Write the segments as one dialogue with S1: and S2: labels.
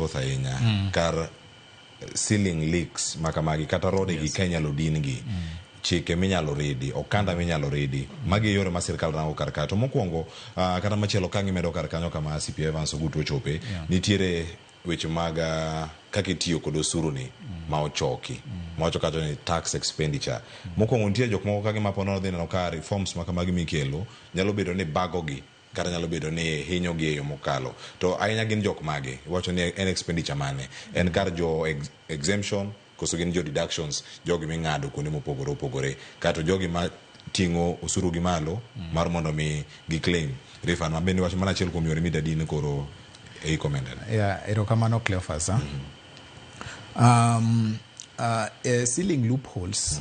S1: thoth ahinya mm. kar eh, ceiling leaks makamagi kata rode yes. gi ka inyalo din gi mm. chike minyalo ridi okanda minyalo ridi magi e yore ma sirkal rango kar kae to mokwongo uh, kata machielo ka gimedo kar kanyo kama cp evans ogutu ochope yeah. nitiere weche mag uh, kaka itiyo kod osuru ni mm. ma ochoki mm. ma wacho kacho ni tax expenditure mm. mokwongo nitie jok moko ka gima ponono dhi neno ka reforms ma kamagi mikelo nyalo bedo ni bagogi Kata nyalo bedo ni hinyogi e yo mokalo. To ahinya gin jok mage? Iwacho ni en expenditure mane? En kar jo exemption koso gin jo deductions jogi ming'ado kuonde mopogore opogore? Kaeto jogi ma ting'o osuru gi malo mar mondo mi gi claim refund ma bende iwacho mano achiel kuom yore midadi ni koro e recommended. Yeah, erokamano
S2: Cleophas. Um, uh, eh, ceiling loopholes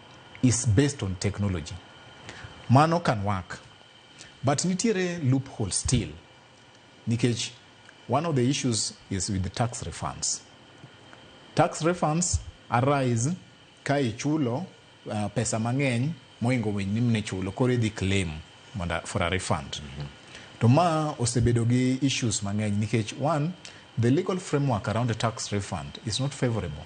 S2: is based on technology. Mano can work. But nitiere loophole still. Nikech one of the issues is with the tax refunds. Tax refunds arise ka ichulo uh, pesa mang'eny moingo winy ni mne chulo koro idhi claim mondo for a refund. Mm-hmm. To ma osebedo gi issues mang'eny nikech one the legal framework around the tax refund is not favorable.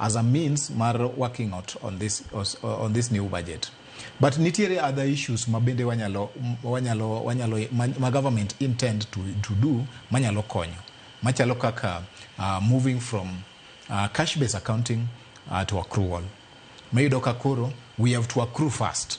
S2: as a means mar working out on this, on this new budget. But nitiere other issues ma bende wanyalo, wanyalo, wanyalo, ma, ma government intend to, to do manyalo konyo machalo kaka uh, moving from uh, cash based accounting uh, to accrual mayudo ka koro we have to accrue first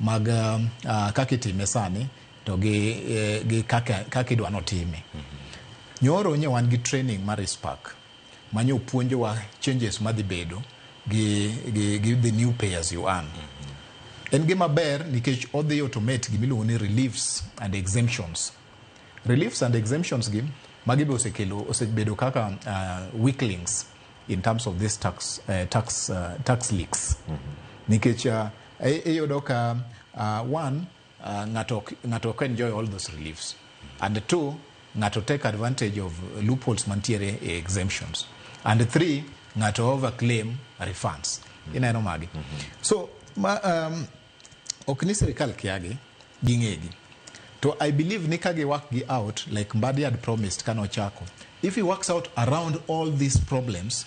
S2: mag uh, kaka itime sani to gi, eh, gi kaka, kaka idwa notime nyoro nye wan gi training mar ispark ma nyo puonjowa changes madhi bedo gi, gi, gi the new pay as you earn en gima ber nikech odhi automate gima iluongo ni reliefs and exemptions reliefs and exemptions gi magi be osekelo osebedo kaka uh, weak links in terms of this tax, uh, tax, uh, tax leaks nikech uh, Iyudo ka uh, one uh, ng'ato ng'ato can enjoy all those reliefs and two ng'ato take advantage of loopholes mantiere e exemptions and three ng'ato overclaim refunds mm. ineno magi mm -hmm. so ma, um, ok ni sirikal kiagi ging'egi to i believe ni ka giwak gi out like mbadi had promised kano chako if he works out around all these problems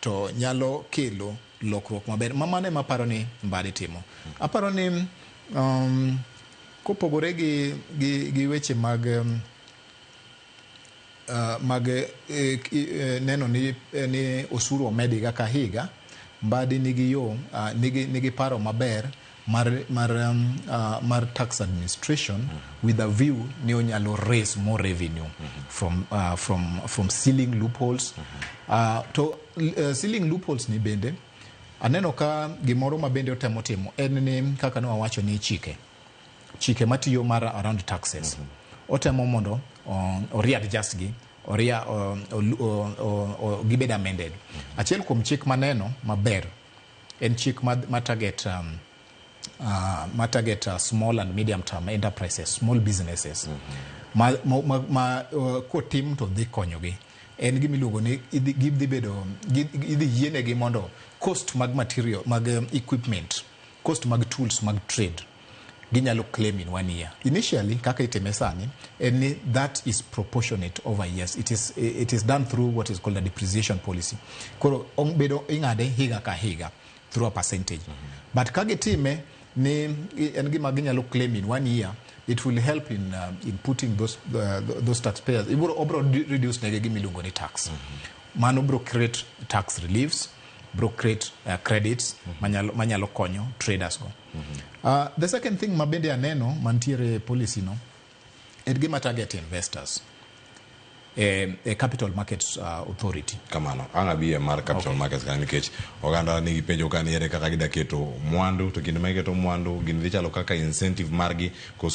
S2: to nyalo kelo lokruok maber ma mano ema aparo ni Mbadi timo. Aparo ni um, kopogore gi, gi, gi weche mag um, uh, mag eh, ki- eh, neno ni, eh, ni osuru omed higa ka higa Mbadi nigi yo uh, nigi, nigi paro maber mar, mar, um, uh, mar tax administration mm -hmm. with a view ni onyalo raise more revenue mm -hmm. from, uh, from, from sealing loopholes mm -hmm. uh, to uh, sealing loopholes ni bende aneno ka gimoro ma bende otemo timo en ni kaka ne wawacho ni chike chike matiyo mar around taxes mm -hmm. otemo mondo um, oriadjust gi oria um, gibed amended mm -hmm. achiel kuom chik maneno maber En chik ma, ma target um, uh, ma target uh, small and medium term enterprises, small businesses. Ma, ma, ma, ma uh, kotim to dhi konyogi. En gima iluongo ni idhi gidhi bedo gi- idhi yienegi mondo cost mag material mag um, equipment, cost mag tools mag trade ginyalo claim in one year. Initially, kaka itime sani, en ni that is proportionate over years. It is, it is done through what is called a depreciation policy. Koro ong- bedo ing'ade higa ka higa through a percentage. But ka gitime ni i- en gima ginyalo claim in one year, it will help in, uh, in putting those, uh, those taxpayers. Ibro, obro di- reduce nege gima iluongo ni tax. Mano bro create tax reliefs, bro create uh, credits manyalo, manyalo konyo traders go. Uh, the second thing ma bende aneno mantiere e policy no en gima target investors e, e capital markets uh, authority kamano ang abiye
S1: mar capital okay. markets kanyo nikech oganda nigi penjo ka niere kaka gidaketo mwandu to kinde ma giketo mwandu gini dhi chalo kaka incentive margi koso